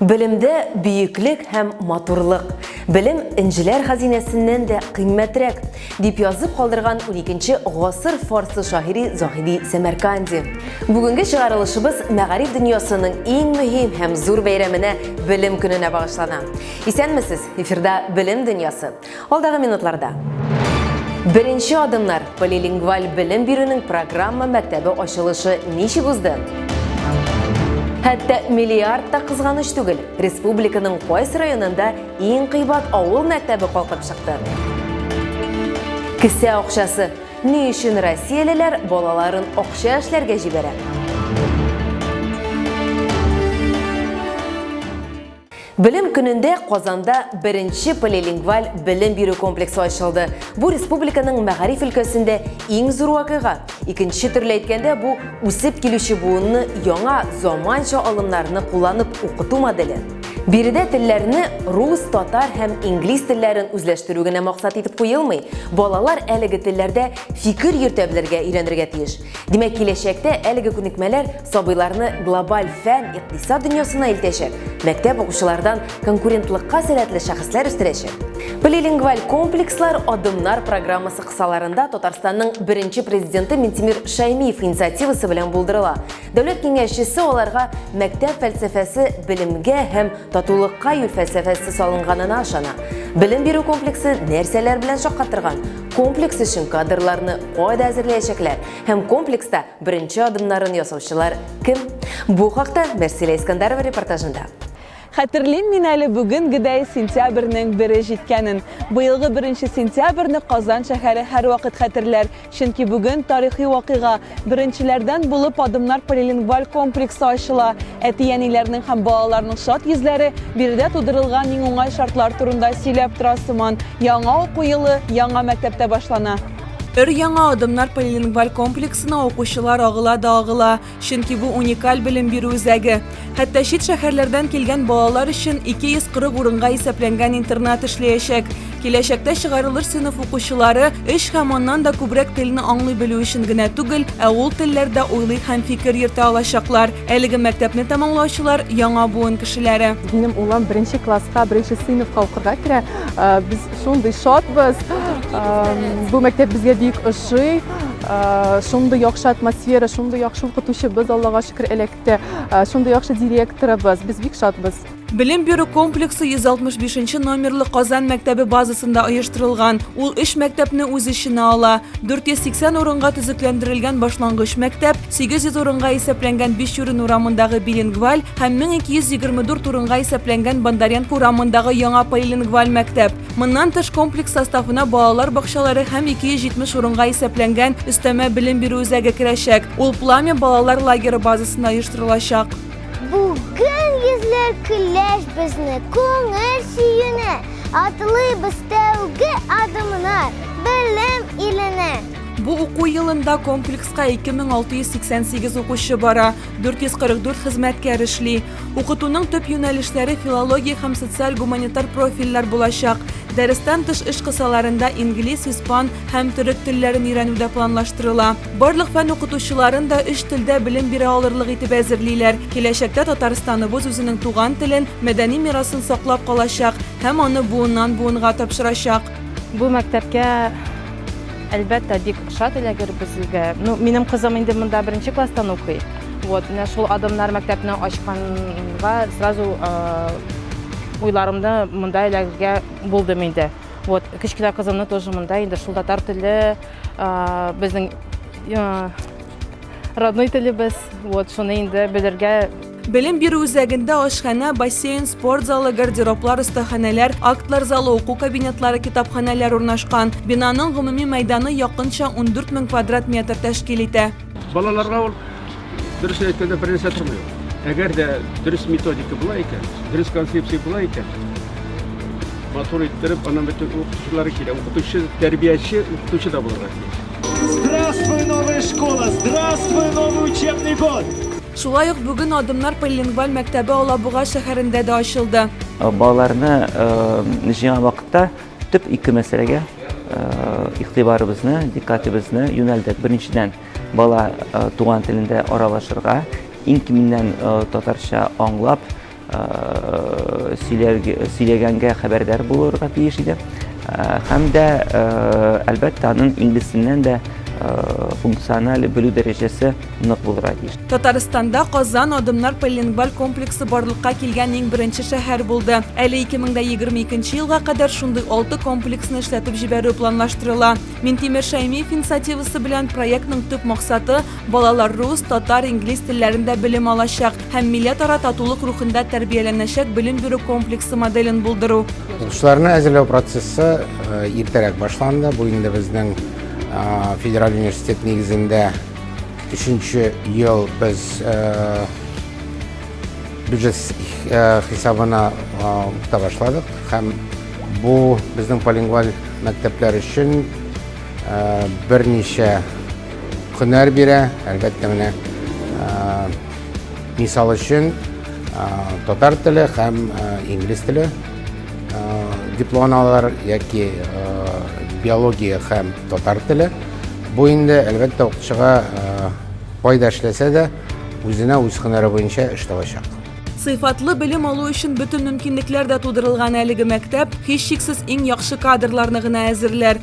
Белемдә бөеклек һәм матурлык. Белем энҗеләр хәзинәсеннән дә кыйммәтрәк, дип язып калдырган 12 гасыр фарсы шагыйри Заһиди Сәмәрканди. Бүгенге чыгарылышыбыз мәгариф дөньясының иң мөһим һәм зур бәйрәменә, Белем көненә багышлана. Исәнмесез! Эфирда Белем дөньясы. Алдагы минутларда Беренче адымнар полилингваль белем бирүнең программа мәктәбе ачылышы ничек узды? Хәтта миллиард та кызганыч түгел, республиканың кайсы районында иң кыйбат авыл мәктәбе калкып чыкты. Кесә акчасы. Ни өчен россиялеләр балаларын акча эшләргә җибәрә? Белем көнендә Казанда беренче полилингваль белем бирү комплексы ачылды. Бу республиканың мәгариф өлкәсендә иң зур вакыйга. Икенче төрле әйткәндә, бу үсеп килүче буынны яңа заманча алымнарны кулланып укыту моделе. Биредә телләрне рус, татар һәм инглиз телләрен үзләштерү генә максат итеп куелмый. Балалар әлеге телләрдә фикер йөртә белергә өйрәнергә тиеш. Димәк, киләчәктә әлеге күнекмәләр сабыйларны глобаль фән, икътисад дөньясына илтәчәк, мәктәп укучылардан конкурентлыкка сәләтле шәхесләр үстерәчәк. Полилингваль комплекслар Адымнар программасы кысаларында Татарстанның беренче президенты Минтимир Шәймиев инициативасы белән булдырыла. Дәүләт киңәшчесе аларга мәктәп фәлсәфәсе белемгә һәм татулыкка юл фәлсәфәсе салынганына ышана. Белем бирү комплексы нәрсәләр белән шаккатырган? Комплекс өчен кадрларны кайда әзерләячәкләр һәм комплекста беренче адымнарын ясаучылар кем? Бу хакта Мәрсилә Искандарова репортажында. Хәтерлим мин әле бүгенгедәй сентябрьнең бере җиткәнен. Быелгы беренче сентябрьне Казан шәһәре һәрвакыт хәтерләр, чөнки бүген тарихи вакыйга, Беренчеләрдән булып Адымнар полилингваль комплексы ачыла. Әти-әниләрнең һәм балаларның шат йөзләре биредә тудырылган иң уңай шартлар турында сөйләп тора сыман. Яңа уку елы яңа мәктәптә башлана. Өр-яңа Адымнар полилингваль комплексына укучылар агыла да агыла, чөнки бу уникаль белем бирү үзәге. Хәтта чит шәһәрләрдән килгән балалар өчен 240 урынга исәпләнгән интернат эшләячәк. Киләчәктә чыгарылыш сыйныф укучылары өч һәм аннан да күбрәк телне аңлый белү өчен генә түгел, ә ул телләрдә уйлый һәм фикер йөртә алачаклар. Әлеге мәктәпне тәмамлаучылар, яңа буын кешеләре. Минем улым беренче класска, беренче сыйныфка укырга керә. Э, без шундый шатбыз. Э, бу мәктәп безгә бик ошый. Э, шундый яхшы атмосфера, шундый яхшы укытучыбыз, Аллага шөкер, эләкте. Әлбәттә, шундый яхшы директорыбыз, без бик шатбыз. Белем бирү комплексы 165 номерлы Казан мәктәбе базасында оештырылган. Ул өч мәктәпне үз эченә ала. 480 урынга төзекләндерелгән башлангыч мәктәп, 800 урынга исәпләнгән Бишүрен урамындагы билингваль һәм 1224 урынга исәпләнгән Бондаренко урамындагы яңа полилингваль мәктәп. Моннан тыш комплекс составына балалар бакчалары һәм 270 урынга исәпләнгән өстәмә белем бирү үзәге керәчәк. Ул Пламя балалар лагеры базасында оештырылачак. Бүген йөзләр көләч безне күңел сөенә, Атылыйбыз тәүге адымны белем иленә. Бу уку елында комплекска 2688 укучы бара, 444 хезмәткәр эшли. Укытуның төп юнәлешләре филология һәм социаль-гуманитар профильләр булачак. Дәрестән тыш эш кысаларында инглиз, испан һәм төрек телләрен өйрәнү дә планлаштырыла. Барлык фән укытучыларын да өч телдә белем бирә алырлык итеп әзерлиләр. Киләчәктә Татарстаныбыз үзенең туган телен, мәдәни мирасын саклап калачак һәм аны буыннан-буынга тапшырачак. Бу мәктәпкә әлбәттә бик шат эләгер безгә. Ну, минем кызым инде монда беренче класстан укый. Вот, менә шул адымнар мәктәпне ачканга сразу уйларымны монда эләгергә булдым инде. Вот, кечкенә кызымны тоже монда инде шул татар теле, безнең родной телебез, вот, шуны инде белергә Белем бирү үзәгендә ашханә, бассейн, спорт залы, гардероблар, остаханәләр, актлар залы, уку кабинетлары, китапханәләр урнашкан. Бинаның гомуми мәйданы якынча 14 мең квадрат метр тәшкил итә. Балаларга ул, дөресен әйткәндә, бернәрсә тормый ул. Әгәр дә дөрес методика була икән, дөрес концепция була икән, матур иттереп, аннан бөтен укытучылары килә. Укытучы, тәрбияче, укытучы да булырга тиеш. Здравствуй, новая школа! Здравствуй, новый учебный год! Шулай ук бүген Адымнар полилингваль мәктәбе Алабуга шәһәрендә дә ачылды. Балаларны җыйган вакытта төп ике мәсьәләгә игътибарыбызны, диккатебезне юнәлдек. Беренчедән, бала туган телендә аралашырга, иң киминнән татарча аңлап, сөйләгәнгә хәбәрдар булырга тиеш иде. Һәм дә, әлбәттә, аның инглиз теленнән дә функциональ белү дәрәҗәсе нык булырга тиеш. Татарстанда Казан адымнар полилингваль комплексы барлыкка килгән иң беренче шәһәр булды. Әле 2022 нче елга кадәр шундый алты комплексны эшләтеп җибәрү планлаштырыла. Минтимер Шәймиев инициативасы белән проектның төп максаты, балалар рус, татар, инглиз телләрендә белем алачак. һәм милләтара татулык рухында тәрбияләнәчәк белем бирү комплексы моделен булдыру. Укучыларны әзерләү процессы э, иртәрәк башланды. Бу инде безнең э, федераль университет нигезендә өченче ел без э, бюджет хисабына укыта башладык һәм бу безнең полингваль мәктәпләр өчен берничә һөнәр бирә, әлбәттә менә Мисал өчен, татар теле һәм инглиз теле дипломын алалар яки биология һәм татар теле. Бу инде, әлбәттә, укытучыга кайда эшләсә дә, үзенә үз һөнәре буенча эш табачак. Сыйфатлы белем алу өчен бөтен мөмкинлекләр дә тудырылган әлеге мәктәп, һичшиксез, иң яхшы кадрларны гына әзерләр.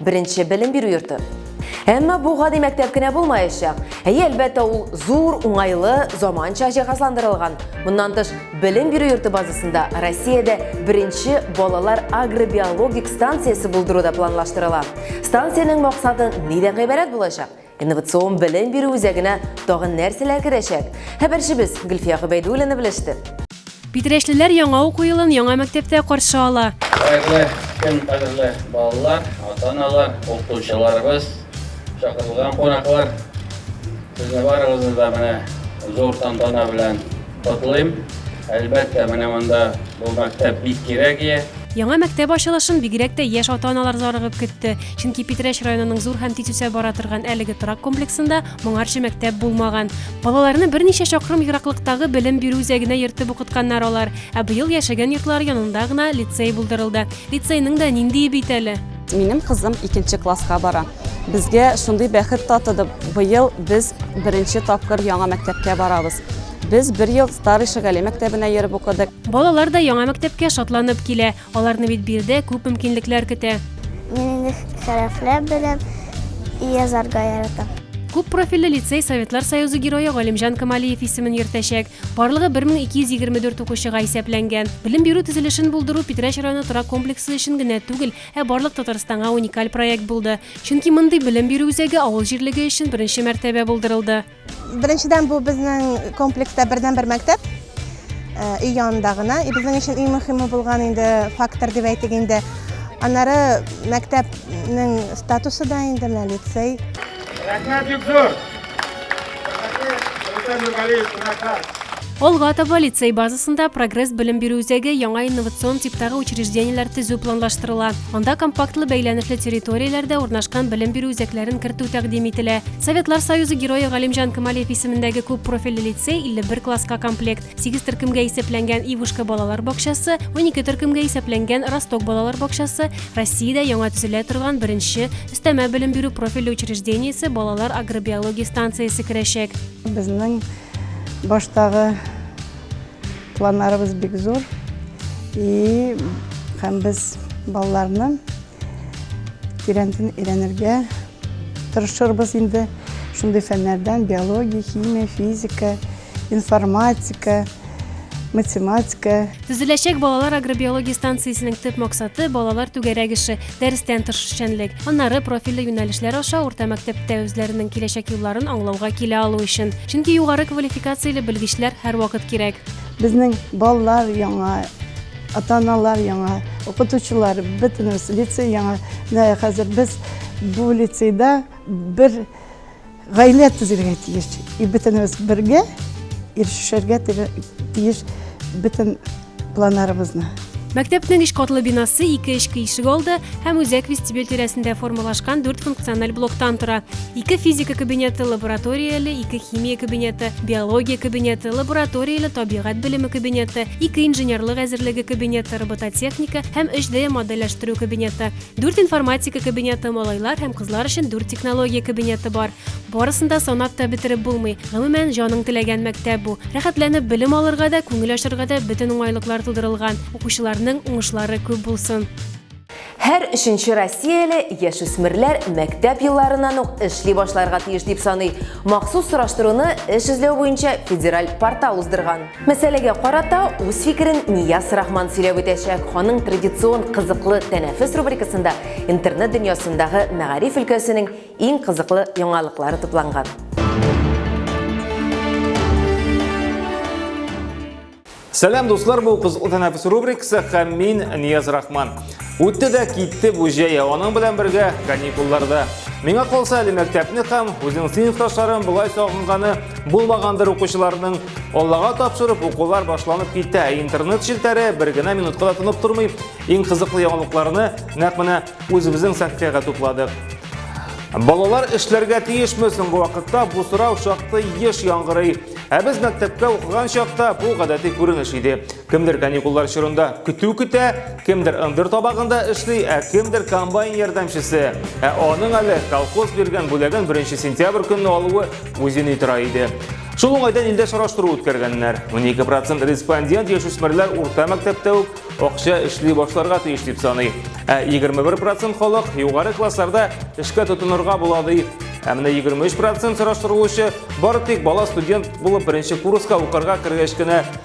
Беренче белем бирү йорты. Әмма бу гади мәктәп кенә булмаячак. Әйе, әлбәттә, ул зур, уңайлы, заманча җиһазландырылган. Моннан тыш, белем бирү йорты базасында Россиядә беренче балалар агробиологик станциясе булдыру да планлаштырыла. Станциянең максаты нидән гыйбарәт булачак? Инновацион белем бирү үзәгенә тагын нәрсәләр керәчәк? Хәбәрчебез Гөлфия Гобәйдуллина белеште. Питрәчлеләр яңа уку елын яңа мәктәптә каршы ала. Хәерле көн, кадерле балалар, ата-аналар, укытучыларыбыз, чакырылган кунаклар! Сезне барыгызны да менә зур тантана белән котлыйм. Әлбәттә, менә монда бу мәктәп бик кирәк иде. Яңа мәктәп ачылышын бигрәк тә яшь ата-аналар зарыгып көтте, чөнки Питрәч районының зур һәм тиз үсә бара торган әлеге торак комплексында моңарчы мәктәп булмаган. Балаларны берничә чакрым ераклыктагы белем бирү үзәгенә йөртеп укытканнар алар, ә быел яшәгән йортлары янында гына лицей булдырылды. Лицейның да ниндие бит әле! Минем кызым икенче класска бара. Безгә шундый бәхет татыды. Быел без беренче тапкыр яңа мәктәпкә барабыз. Без бер ел Старый Шагали мәктәбенә йөреп укыдык. Балалар да яңа мәктәпкә шатланып килә. Аларны бит биредә күп мөмкинлекләр көтә. Мин инде хәрефләр беләм, язарга яратам. Күп профильле лицей Советлар Союзы герое Галимҗан Камалиев исемен йөртәчәк. Барлыгы 1224 укучыга исәпләнгән. Белем бирү төзелешен булдыру Питрәч районы торак комплексы өчен генә түгел, ә барлык Татарстанга уникаль проект булды. Чөнки мондый белем бирү үзәге авыл җирлеге өчен беренче мәртәбә булдырылды. Беренчедән, бу безнең комплекста бердәнбер мәктәп, өй янында гына. И безнең өчен иң мөһиме булган инде фактор дип әйтик инде. Аннары мәктәпнең статусы да инде менә лицей. Рәхмәт бик зур. Рәхмәт. Рәхмәт. Рәхмәт. Алга таба лицей базасында Прогресс белем бирү үзәге яңа инновацион типтагы учреждениеләр төзү планлаштырыла. Анда компактлы бәйләнешле территорияләрдә урнашкан белем бирү үзәкләрен кертү тәкъдим ителә. Советлар Союзы герое Галимҗан Камалиев исемендәге күп профильле лицей 51 класска комплект, 8 төркемгә исәпләнгән Ивушка балалар бакчасы, 12 төркемгә исәпләнгән Росток балалар бакчасы, Россиядә яңа төзелә торган беренче өстәмә белем бирү профильле учреждениесе балалар агробиология станциясе керәчәк. Безнең Баштагы планнарыбыз бик зур. И һәм без балаларны тирәнтен өйрәнергә тырышырбыз инде. Шундый фәннәрдән биология, химия, физика, информатика, математика. Төзеләчәк балалар агробиология станциясенең төп максаты, балалар түгәрәк эше. дәрестән тыш эшчәнлек, аннары профильле юнәлешләр аша урта мәктәптә үзләренең киләчәк юлларын аңлауга килә алу өчен. Чөнки югары квалификацияле белгечләр һәрвакыт кирәк. Безнең балалар яңа, ата-аналар яңа, укытучылар бөтенебез лицей яңа. Менә хәзер без бу лицейда бер Гаилә төзергә тиеш. И бөтенебез бергә ирешергә тиеш бөтен планнарыбызны. Мәктәпнең өч катлы бинасы ике эчке ишек алды һәм үзәк вестибюль тирәсендә формалашкан дүрт функциональ блоктан тора. Ике физика кабинеты, лабораторияле, ике химия кабинеты, биология кабинеты, лабораторияле табигать белеме кабинеты, ике инженерлык әзерлеге кабинеты, робототехника һәм 3D модельләштерү кабинеты. Дүрт информатика кабинеты, малайлар һәм кызлар өчен дүрт технология кабинеты бар. Барысын да санап та бетереп булмый. Гомумән, җаның теләгән мәктәп бу. Рәхәтләнеп белем алырга да, күңел ачарга да бөтен уңайлыклар тудырылган. Укучыларның уңышлары күп булсын. Һәр өченче россияле яшүсмерләр мәктәп елларыннан ук эшли башларга тиеш дип саный. Махсус сораштыруны эш эзләү буенча федераль портал уздырган. Мәсьәләгә карата үз фикерен Нияз Рахман сөйләп үтәчәк. Аның традицион кызыклы тәнәфес рубрикасында интернет дөньясындагы мәгариф өлкәсенең иң кызыклы яңалыклары тупланган. Сәлам, дуслар, бу кызыклы тәнәфес рубрикасы һәм мин Нияз Рахман. Үтте дә китте бу җәй, аның белән бергә каникулларда. Миңа калса әле мәктәпне һәм үзен сыйныфташларын болай сагынганы булмагандыр укучыларның. Аллага тапшырып укулар башланып китә, ә интернет челтәре бер генә минутка да тынып тормый. Иң кызыклы яңалыкларны нәкъ менә үзебезнең сәхифәгә тупладык. Балалар эшләргә тиешме соңгы вакытта бу сорау шактый еш яңгырый. Ә без мәктәпкә укыган чакта бу гадәти күренеш иде. Кемдер каникуллар чорында көтү көтә, кемдер ындыр табагында эшли, ә кемдер комбайн ярдәмчесе. Ә аның әле колхоз биргән бүләген 1 сентябрь көнне алуы үзен тора иде. Шул уңайдан илдә сораштыру үткәргәннәр. 12 процент респондент яшүсмерләр урта мәктәптә үк акча эшли башларга тиеш дип саный. Ә 21 процент халык югары классларда эшкә тотынырга була ди. Ә менә 23 процент сораштырылучы бары тик бала студент булып беренче курска укырга кергәч кенә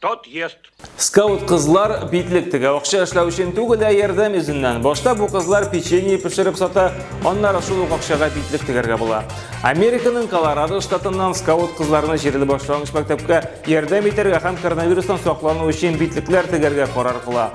Тот ест. Скаут кызлар битлек тегә акча эшләү өчен түгел, ә ярдәм йөзеннән. Башта бу кызлар печенье пешереп сата, аннары шул ук акчага битлек тегәргә була. Американың Колорадо штатыннан скаут кызларны җирле башлангыч мәктәпкә ярдәм итәргә һәм коронавирустан саклану өчен битлекләр тегәргә карар кыла.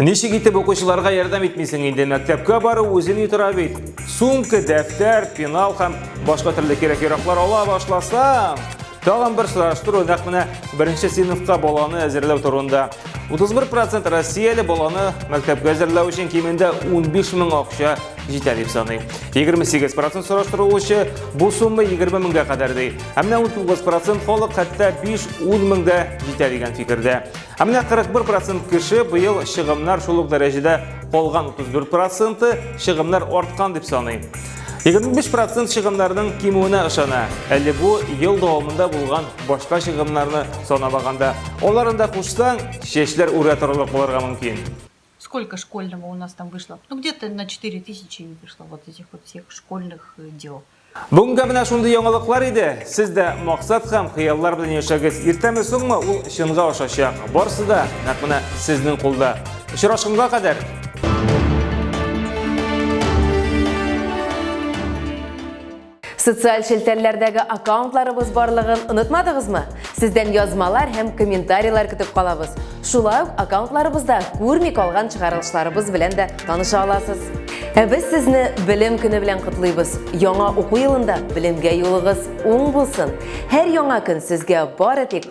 Ничек итеп укучыларга ярдәм итмисең инде, мәктәпкә бару үзен ютыра бит. Сумка, дәфтәр, пенал һәм башка төрле кирәк-яраклар ала башласаң, тагын бер сораштыру нәкъ менә беренче сыйныфка баланы әзерләү турында. 31 процент россияле баланы мәктәпкә әзерләү өчен кимендә 15 мең акча җитә дип саный. 28 процент сораштырылучы бу сумма 20 меңгә кадәр ди. Ә менә 19 процент халык хәтта 5-10 меңгә җитә дигән фикердә. Ә менә 41 процент кеше быел чыгымнар шул ук дәрәҗәдә калган 34 проценты чыгымнар арткан дип саный. 25 процент чыгымнарның кимүенә ышана. Әле бу ел дәвамында булган башка чыгымнарны санамаганда. Аларында кушсаң, чәчләр үрә торырлык булырга мөмкин. Сколько школьного у нас там вышло? Ну, где-то на 4000 вышло вот этих вот всех школьных э, дел. Бүгінгі менә шундый яңалыклар иде. Сез дә мақсат һәм хыяллар белән яшәгез. Иртәме соңмы ул чынга ашачак. Барсы да нәкъ менә сезнең кулда. Очрашканга кадәр Социаль челтәрләрдәге аккаунтларыбыз барлыгын онытмадыгызмы? Сездән язмалар һәм комментарийлар көтеп калабыз. Шулай ук аккаунтларыбызда күрми калган чыгарылышларыбыз белән дә таныша аласыз. Ә без сезне белем көне белән котлыйбыз. Яңа уку елында белемгә юлыгыз уң булсын. Һәр яңа көн сезгә бары тик